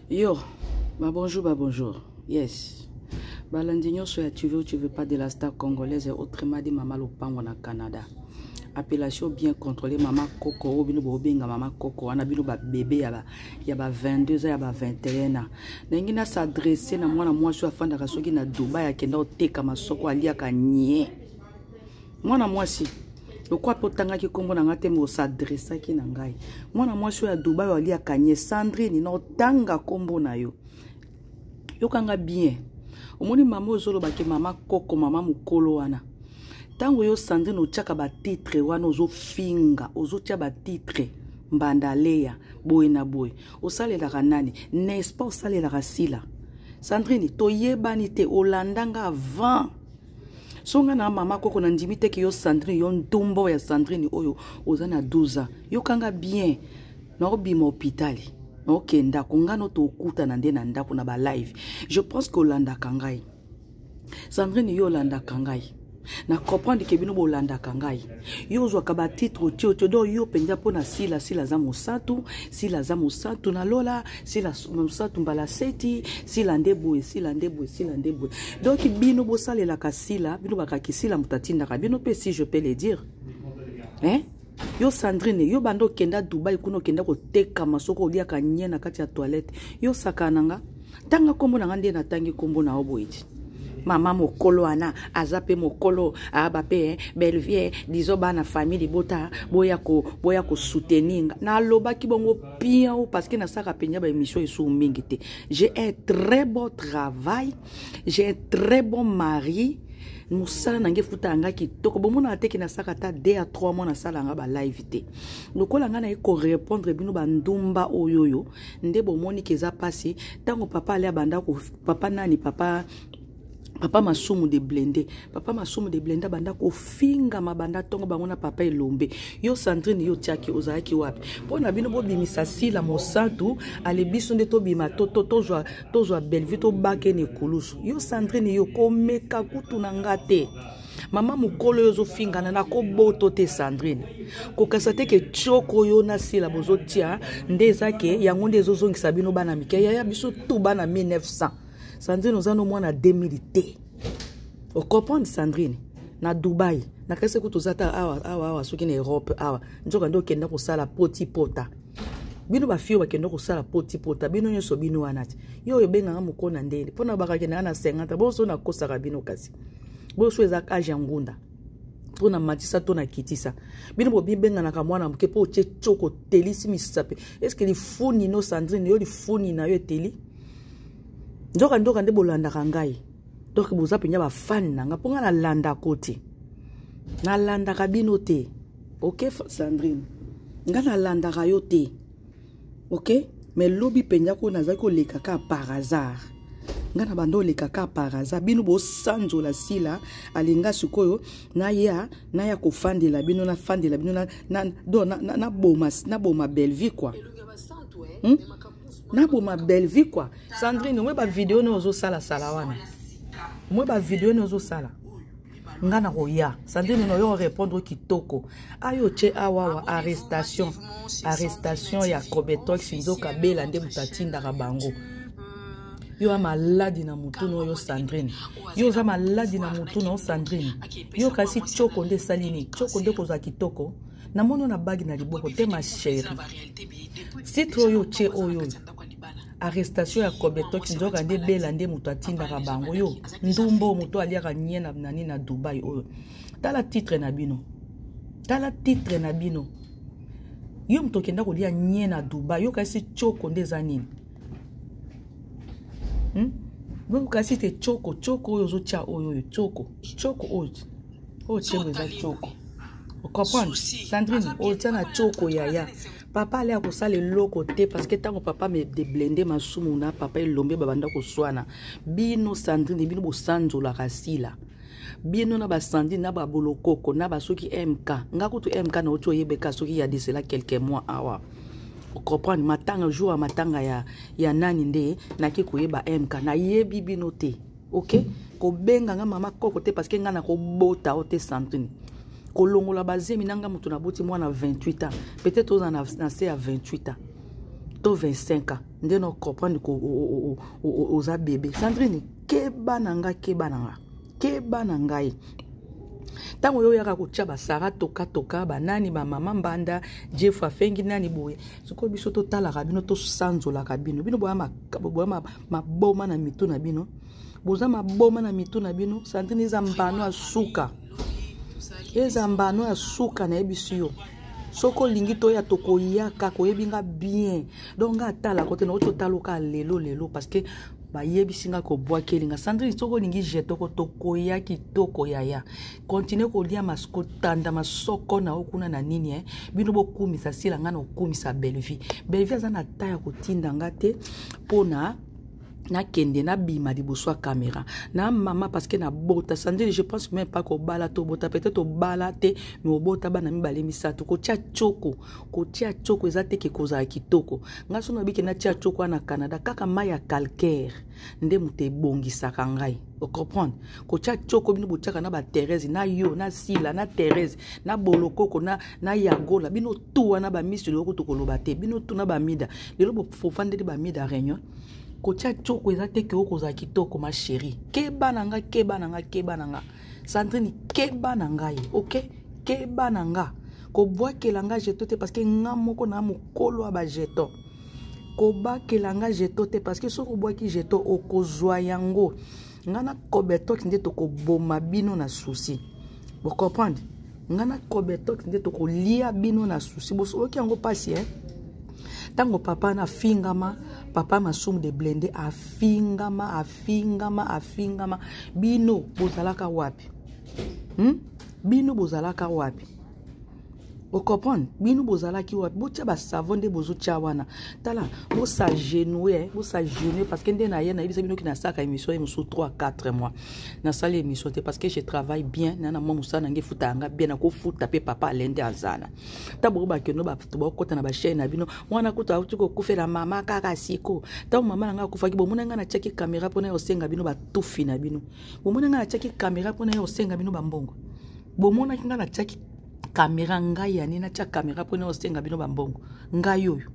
Yo, ba bonjour, ba bonjour. Yes. Balandi nyonso ya tu veux tu veux pas de la star congolaise autrement dit mama lopango na Canada. Appellation bien contrôlée mama koko oyo bino bobenga mama koko wana bino ba bébé ya ba ya ba 22 ans ya ba 21 ans. Ndenge na s'adresser na mwana mwasi oyo afandaka soki na Dubai akenda oteka masoko aliaka nie. mwana mwasi lokola mpe otangaki nkombo na ngai te me osadressaki na ngai mwana mwasi oyo ya dubai oyo aliaka nye sandrine na otanga nkombo na yo yokanga bien omoni mama ozolobake mama koko mama mokolo wana ntango yo sandrine otyaka batitre wana ozofinga ozotya batitre mbanda leya boye na boye osalelaka nani n'est-ce pas osalelaka sila sandrine toyebani te olanda nga avant songa na mama koko na ndimi te ke yo sandrine yo ntumbo ya sandrine oyo oza na 12 ans yokanga bien naobima hopitali naokende ndako ngai no tokutana nde na ndako na balive je pense ke olandaka ngai sandrine yo olandaka ngai na comprendre ke bino bolandaka ngai yo ozwaka batitre otio otio donc yo mpenza mpo na sila sila aza mosatu sila aza mosatu na lola sila mosatu mbala seti sila nde boye sila nde boye sila nde boye donc bino bosalelaka sila bino bakaki sila moto atindaka bino mpe si je peux le dire hein? yo sandrine yo banda okenda dubai kuna okenda kotekama soki oliaka nye na kati ya toilette yo sakana nga tanga nkombo na nga nde natangi nkombo na yo boye ti mama mokolo wana aza mpe mokolo aba mpe eh, belvie dizo bana famille libota boya boya kosoutenir nga nalobaki bongo piau parce que nasalaka mpenza baémission esusu mingi te j'ai un très beau travail j'ai un très bon mari mosala na ngai efuta yanga kitoko bomonaka teke nasaka ata de ya trois mois nasala yanga balive te lokola ngai naye korepondre bino bandumba oyoyo nde bomoni ke eza pasi ntango papa ale abanda papa nani papa papa masumu de blende papa masumu de blende abanda kofingama banda ntongo bango na papa elombe yo sandrine yo tiaki ozalaki wapi mpo na bino bobimisa sila mosantu ale biso nde tobima tozwa to, to, to bellevue tobakene ekulusu yo sandrine yo komeka kutu na nga te to mama mokolo oyo ozofingana na koboto te sandrine kokasa te ke tioko yo na sila bozotia nde eza ke yango nde ezozongisa bino bana mike yaya biso tu bana 1900 sandrine oza no mwana 2000 te ocomprendre sandrine na dubai nakasi kutu oza ta awa awa awa soki na europe awa nzoka nde okenda kosala poti pota bino bafi oyo bakenda kosala poti pota bino nyonso bino wana te yo oyo ebengaka mokona ndeni mpo na bakakendaka na 50 boso nakosaka bino kasi boyo so eza age ya ngunda to na matisa to na kitisa bino bobibenganaka mwana moke mpo otye coko otelisi misape eske lifuni no sandrine yo lifuni na yo eteli nzoka nzoka nde bolandaka ngai donk boza mpenza bafani na ngai mpo ngai nalandako te nalandaka bino te oke sandrine ngai nalandaka yo te ok mais lobi mpenza ko nazalaki koleka ka par hasard ngai na banda oleka ka par hasard bino bosanzola sila alinga sikoyo naya naya kofandela bino nafandela bino naboma na, na bellevie kua hmm? naboma bellevie kua sandrine omoi bavideo ne ozosalasala wana omoi bavideo ne ozosala nga na koya sandrine na yo orépondre kitoko ayo tye awawa arrestation arrestation ya cobetox nzoka bela nde moto atindaka bango yo ya maladi na motu na oyo sandrine yo oza maladi na motu na yo sandrine yo kasi tioko nde esali nini tioko nde kozwa kitoko namoni yo na bagi na liboko te ma chéri sitro oyo otye oyo arrestation ya kobetoki nzoka nde bela nde moto atindaka bango yo ndumbo moto aliaka nye na nani na dubai oyo tala titre na bino tala titre na bino yo moto okenda kolia nye na dubai yo kasi choko nde eza nini hmm? donc kasi te choko choko oyo ozotya oyo oyo choko choko oyo oyo chengo eza choko ocomprendre sandrine otya na choko yaya papa ale akosala eloko te parce que ntango papa me deblende masumu na papa elombe babanda koswana bino sandrine bino bosanzolaka sila bino na basandi na babolokoko na basoki mk nga kutu mk na oti oyebeka soki ya desela quelques mois awa comprendre matanga jour ya matanga ya, ya nani nde nake koyeba mk nayebi bino te ok kobenga nga mama koko te parce que nga nakobota o te santini kolongola bazemi na nga moto naboti mwana 28 ans peut-être oza na, na se ya 28 ans to 25 ans nde na comprendre ko oza bebe sandrine keba na nga keba na nga keba na ngai ntango oyo oyaka kotya basara tokatoka banani bamama mbanda jeff afengi nani boye sikoyo biso totalaka bino tosanzolaka bino bino boya maboma na mitu na bino boza maboma na mitu na bino santini eza mbano ya suka eza mbano ya suka nayebisi yo soki olingi toya tokoyaka koyebi nga bien donc nga atala kote nakoki totaluka lelo lelo parce que bayebisi nga kobwakeli nga sandrine soki olingi jetoko tokoya kitoko yaya kontinue kolia mas kotanda masoko na yo kuna na nini eh? bino bokumisa sila ngai na kokumisa bellevie bellevie aza na ta ya kotinda nga te mpo na nakende nabima liboso ya kamera na mama parceke nabota sandili je pense meme pas kobala tobota peut-être obala te me obota bana mibale misato kotya coko kotya coko eza teke kozala kitoko ngai so nabike natya coko wana na canada kaka mai ya calcaire nde moto ebongisaka ngai ocomprendre kotya coko bino botyaka na batherese na yo na sila na therese na bolokoko na, na yagola bino tu wana bamisi lelo kutu koloba te bino tu na bamida lelo bofandeli bamida réunion kotya coko eza te ke okozala kitoko ma chérie keba na nga keba na nga keba na nga sandrine keba na ngai ok keba na nga kobwakela nga jeto te parceke nga moko na mokolo ya bajeton kobakela nga jeto te parceke soki obwaki jeto okozwa yango nga na kobetox nde tokoboma bino na susi Vous comprenez Nga na Cobetox nde tokolia bino na souci. Bosoloki yango pasi, hein ntango papa na afingama papa masumu de blende afingama afingama afingama bino bozalaka wapi hmm? bino bozalaka wapi ocomprendre bino bozalaki wapi botya basavo nde bozotya wana tala bosagenue eh, bosagenue parce que nde na ye nayebisa bino ki nasalaka émission ye mosusu 3 4 mois nasali émission te parce que je travaille bien na na mwa mosala nange efuta yanga bien nakofuta mpe papa alende azana ntango boko bakendo bato bakokota na bachaine na bino mwana kutu auti kokufela mama kaka siko ntango mama na ngai akufaki bomona ngai natyaki kamera mpo na ye osenga bino batufi na bino bomona ngai natyaki kamera mpo na ye osenga bino bambongo bomonaki ngai natyaki kamera ngai ya nini natya kamera mpo naosenga bino bambongo ngai oyo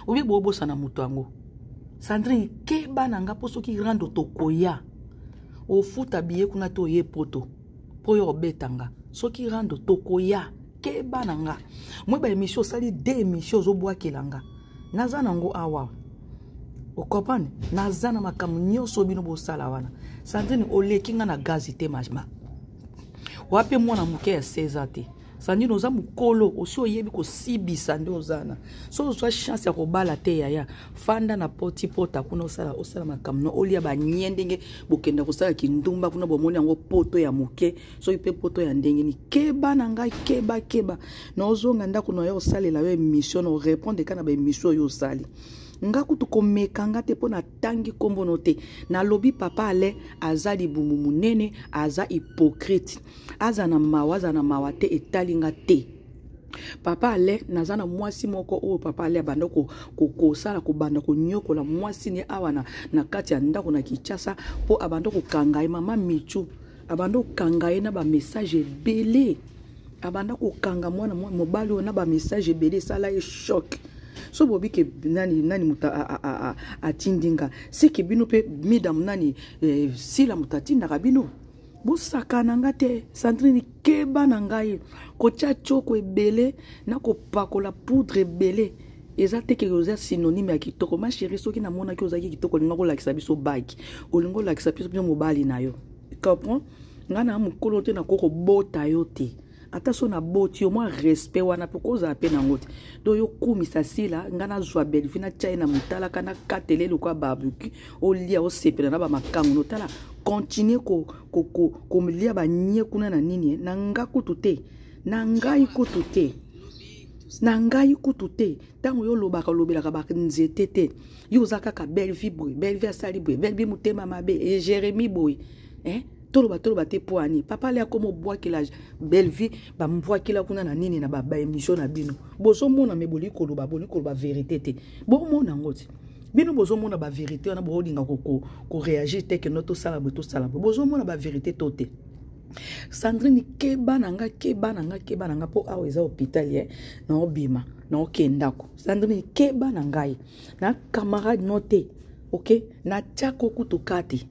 oye boobosana moto yango sandrine keba na ngai mpo soki rando tokoya ofuta biye kuna te oye poto mpo yo obeta nga soki rando tokoya keba na nga moi baémission osali de émission ozobwakela nga naza nango awa okomprane naza na makambo nyonso bino bosala wana sandrine oleki nga na gazi te majma wape mwana moke ya 16 ans te sandine oza mokolo osi oyebi kosibisa nde oza na soki ozwa chance ya kobala te yaya fanda na poti pota kuna osala osala makambo no olia banie ndenge bokenda kosala kindumba kuna bomoni yango poto ya moke soki mpe poto ya ndenge ni keba na ngai keba keba na ozonga ndako na yo osalela yo emission na orepondre ka na baemission oyo osali nga kutu komeka nga te mpo na tangi kombo no te nalobi papa ale aza libumu monene aza hypocrite aza na mawa aza na mawa te etali nga te papa ale naza na mwasi moko oyo papa ale abanda kosala ko, ko kobanda konyokola mwasi ne awa na, na kati ya ndako na kinshasa mpo abanda kokanga ye mama michu abanda kokanga ye na bamessage ebele abanda kokanga mwana mobali oyo na bamessage ebele esala ye choc so bobi ke nani nani moto atindi nga seke bino mpe midam nani eh, sila moto atindaka bino bosakana nga te sandrine keba na ngai kotya tioko ebele na kopakola poudre ebele eza te keke oza synonyme ya kitoko ma chérie soki namonaki ozalaki kitoko olinga kolakisa biso baki olinga olakisa biso biso mobali na yo comprend ngai na mokolo te nakoki kobota yo te ata so naboti yo mwa respect wana mpe kozala mpe nango te do yo kumisa sila ngai nazwa belvi natya ye na motalaka nakatele lokola babuki olia osepela na bamakango notala continue kolia ko, ko, ko, banie kuna na nini eh? na nga kutu te na ngai kutu te na ngai kutu te ntango yo olobaka olobelaka banzete te yo oza kaka belvie boye belvie asali boye belvie motema mabe e jérémi boye eh? toloba toloba te mpo ani papa ale akoma obwakela belvie bambwakela kuna na nini na baémission na bino bozomona me boli koloba boli koloba verité te bomona yango ti bino bozomona baverité wana bolinga koreagir te keno tosala boye tosala boye bozomona baverité to te sandrine keba na nga keba na nga keba na nga mpo awa eza hôpital ye naobima naokee ndako sandrine keba na ngai na camarade no te ok natiako kutu kati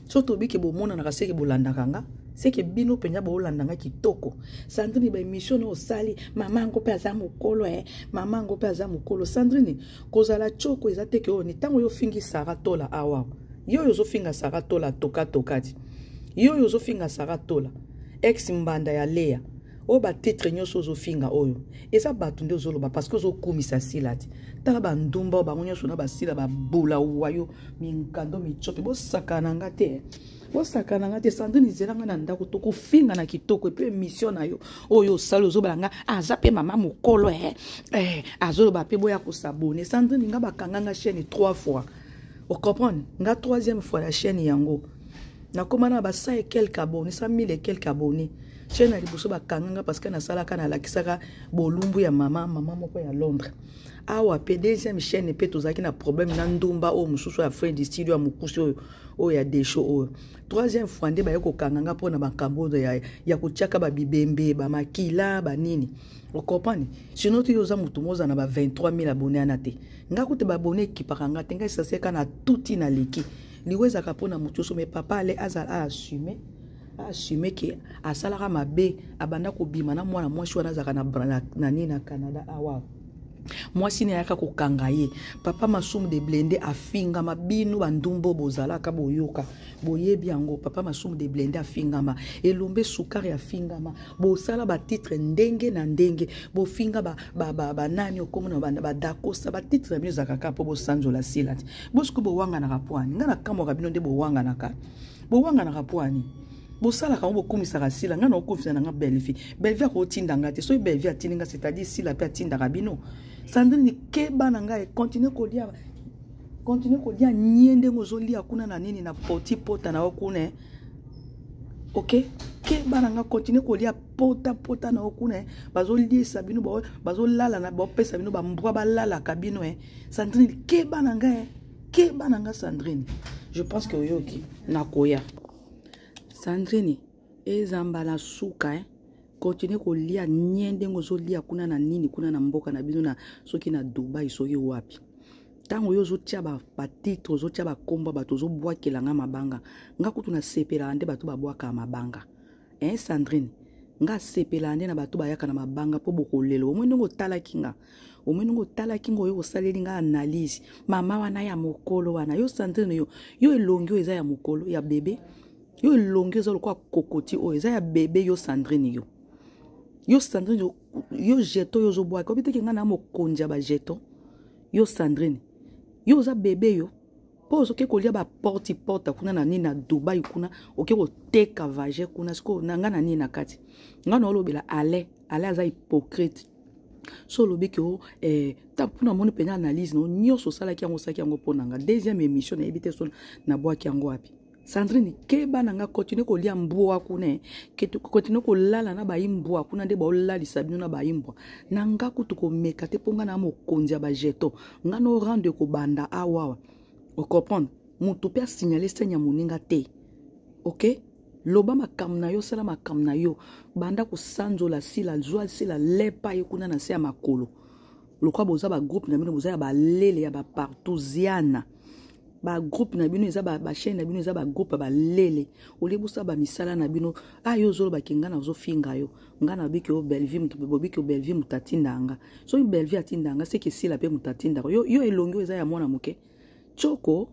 so tobike bomonanaka seke bolandaka nga seke bino mpenza boolanda nga kitoko sandrine baemission na osali mama yango mpe aza mokolo e eh. mama yango mpe aza mokolo sandrine kozala coko eza teke oyo ni ntango yo ofingi sara tola awa yo oyo ozofinga sara tola tokatokati toka yo oyo ozofinga sara tola ex mbanda ya lea oyo batitre nyonso ozofinga oyo eza bato nde ozoloba parceke ozokumisa sila te tala bandumba oyo bango nyonso na basila babola wayo minkando mitsope bosakana nga te bosakana nga te sandrine izela nga na ndako tokofinga na kitoko epe emission na yo oyo osali ozobala nga aza mpe mama mokolo eh, eh, azoloba mpe boya kosabone sandrine nga bakanga nga chaine trois fois ocomprendre nga troisième fois na chaine yango nakoma na ba 100 et quelques abonnés 100 000 et quelques abonnés chaîne ya liboso bakanga nga parce que nasalaka nalakisaka bolumbu ya mama mama moko ya londres awa mpe deuxième chaîne mpe tozalaki na problème na ndumba oyo mosusu ya fred studio ya mokusi oyo oyo ya desho oyo troisième fois nde baye kokanga nga mpo na makambo oyo ya, ya kotiaka babibembe bamakila banini okomprane sino te yo oza motu moza na ba 23 000 abone ana te nga kutu babone ekipaka nga te ngai saseka na tuti na leki liwa ezalaka mpo na moto nyonso me papa ale azala aassume aassume ke asalaka mabe abanda kobima na mwana mwasi wana azalaka na nini na canada awa mwasi ne ayaka kokanga ye papa masumu de blende afingama bino bandumbo bozalaka boyoka boyebi yango papa masumu de blende afingama elombe sukari afingama bosala batitre ndenge na ndenge bofinga banani ba, ba, ba okomona badakosa batitre ya bino ezalaka kaka mpo bosanzola silati bosiko bowanganaka pwani ngai nakamwaka bino nde bowanganaka bowanganaka pwani bosalaka yango bokumisaka sila ngai nakokumisa na nga belvi belvi akotinda ngai te soki belvi atindi ngai c'est-à-dire sila mpe atindaka bino sandrine keba na ngai continue kolia continue kolia nie ndenge ozolia kuna na nini na poti pota na yo kuna eh. ok keba na ngai continue kolia pota pota na yo kuna eh. bazoliesa bino bazolalana bapesa bino bambwa balalaka bino eh. sandrine keba na nga keba na nga sandrine je pense que oyoki nakoya sandrine eza mbala suka eh? continue kolia nie ndenge ozolia kuna na nini kuna na mboka na bino na soki na dubai soki wapi ntango yo ozotya batitre ozotya bakombo bato ozobwakela nga mabanga nga kutu nasepelaka nde bato babwakaka mabanga eh sandrine nga asepelaka nde na bato bayaka na mabanga mpo bokolelo omoi ndenge otalaki nga omoni ngo otalaki ngo oyo osaleli nga analyse mama wana ya mokolo wana yo sandrine yo yo elongi oyo eza ya mokolo ya bebe yo elongi eza lokola kokoti oyo eza ya bebe yo sandrine yo yo sandrine yo, yo jeton yo ozobwaka obi teke nga na mokonzi ya bajeton yo sandrine yo oza bebe yo mpo ozoke kolia baporte porte kuna na nini na dubai kuna oke koteka vage kuna sikoyo na ngai na nini na kati ngai naolobela ale ale aza hypocrite so olobi ke o eh, mpona moni mpenza analyse no nyonso osalaki yango osalaki yango mpo na nga deuxième émission nayebi te so nabwaki yango wapi sandrine keba na nga continue kolia mbwa kuna eh. continue kolala na baimbwa kuna nde baolalisa bino na baimbwa na nga kutu komeka te mpo nga na mokonzi ya bajeton nga no rendre kobanda awawa ah, ocomprendre motu mpe asignale senya moninga te okay loba makambo na yo sala makambo na yo banda kosanzola sila zwa sila lepa ye kuna na se ya makolo lokola boza bagroupe na bino boza ya balele ya bapartusiana bagroupe na bino eza bachaine na bino eza bagroupe ya balele olie bosala bamisala na bino a ah, yo ozolobake ngai nazofinga yo ngai nabiki yo bellevie bobiki yo bellevie moto atinda nga soki bellevie atinda nga seke esila mpe moto atindaka yo, yo elongi oyo eza ya mwana moke coko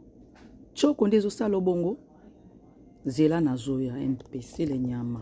coko nde ezosala obongo zela nazoya mpesele nyama